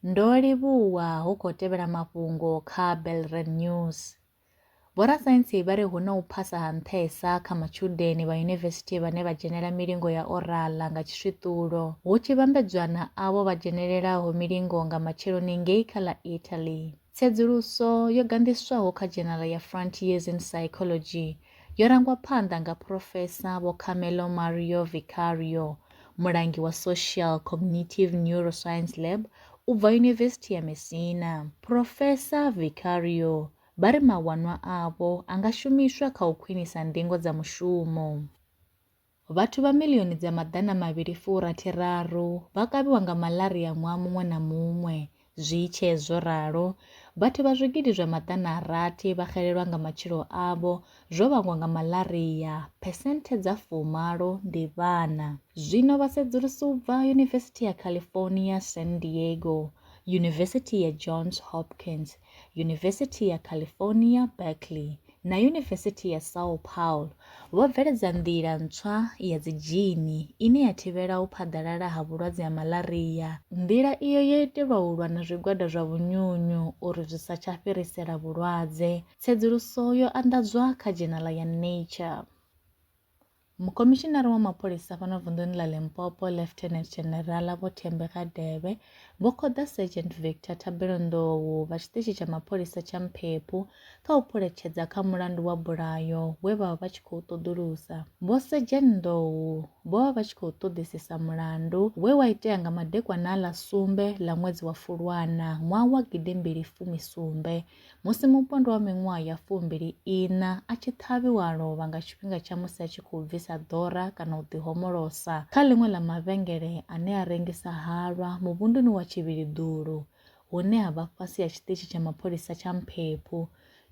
Ndo livhuwa hu khou tevhela mafhungo kha Belred News. Vhorasaintsi vha ri hu na u phasa ha nṱhesa kha matshudeni vha yunivesithi vhane vha dzhenela milingo ya orala nga tshiswiṱulo, hu tshi vhambedzwa na avho vha dzhenelelaho milingo nga matsheloni ngei kha ḽa Italy. Tsedzuluso yo ganḓiswaho kha dzhenala ya Frontiers in Psychology yo rangwa phanḓa nga Phurofesa Vho Carmelo Mario Vicario, mulangi wa Social Cognitive Neuroscience Lab u bva Yunivesithi ya Messina. Phurofesa Vicario vha ri mawanwa avho a nga shumiswa kha u khwinisa ndingo dza mushumo. Vhathu vha miḽioni dza maḓana mavhili fu rathi raru vha kavhiwa nga malaria ṅwaha muṅwe na muṅwe. Zwi tshee zwo ralo, vhathu vha zwigidi zwa maḓana a rathi vha xelelwa nga matshilo avho zwo vhangwa nga malaria, phesenthe dza fu malo ndi vhana. Zwino vhasedzulusi u bva Yunivesithi ya California, San Diego, Yunivesithi ya Johns Hopkins, Yunivesithi ya California, Berkeley, na Yunivesithi ya São Paulo vho bveledza nḓila ntswa ya dzidzhini ine ya thivhela u phaḓalala ha vhulwadze ha malaria. Nḓila iyo yo itelwa u lwa na zwigwada zwa vhunyunyu uri zwi sa tsha fhirisela vhulwadze, tsedzuluso yo anḓadzwa kha dzhenala ya Nature. Mukomishinari wa mapholisa fhano vunḓuni ḽa Limpopo, Lieutenant General Vho Thembi Radebe, vho khoḓa Sergeant Victor Thabelo Ndou vha tshiṱitshi tsha mapholisa tsha Mphephu kha u phuletshedza kha mulandu wa bulayo we vha vha vha tshi khou ṱoḓulusa. Vho Sergeant Ndou vho vha vha tshi khou ṱoḓisisa mulandu we wa itea nga madekwana a ḽa sumbe ḽa ṅwedzi wa Fulwana ṅwaha wa gidi mbili fumi sumbe Musi mupondwa wa miṅwaha ya fumbili ina a tshi ṱhavhiwa a lovha nga tshifhinga tsha musi a tshi khou bvisa ḓora kana u ḓihomolosa kha ḽiṅwe ḽa mavhengele ane a rengisa halwa muvhunduni wa Tshivhiliḓulu hune ha vha fhasi ha tshiṱitshi tsha mapholisa tsha Mphephu.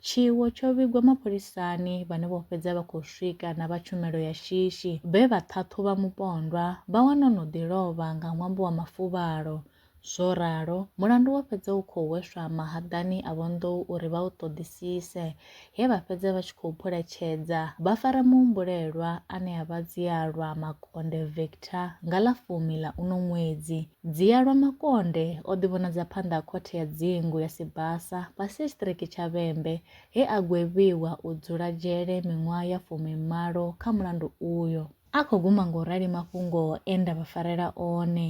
Tshiwo tsho vhigwa mapholisani vhane vho fhedza vha khou swika na vha tshumelo ya shishi vhe vha ṱhaṱhuvha mupondwa vha wana o no ḓi lovha nga ṅwambo wa mafuvhalo. Zwo ralo, mulandu wo fhedza u khou hweswa mahaḓani a vhonḓou uri vha u ṱoḓisise, he vha fhedza vha tshi khou phuletshedza vha fara muhumbulelwa ane a vha Dzialwa Makonde Victor nga ḽa fumi ḽa uno ṅwedzi. Dzialwa Makonde o ḓivhonadza phanḓa ha Khothe ya Dzingu ya Sibasa fhasi ha Tshiṱiriki tsha Vhembe he a gwevhiwa u dzula dzhele miṅwaha ya fumi malo kha mulandu uyo. A khou guma nga u rali mafhungo e nda vha farela one,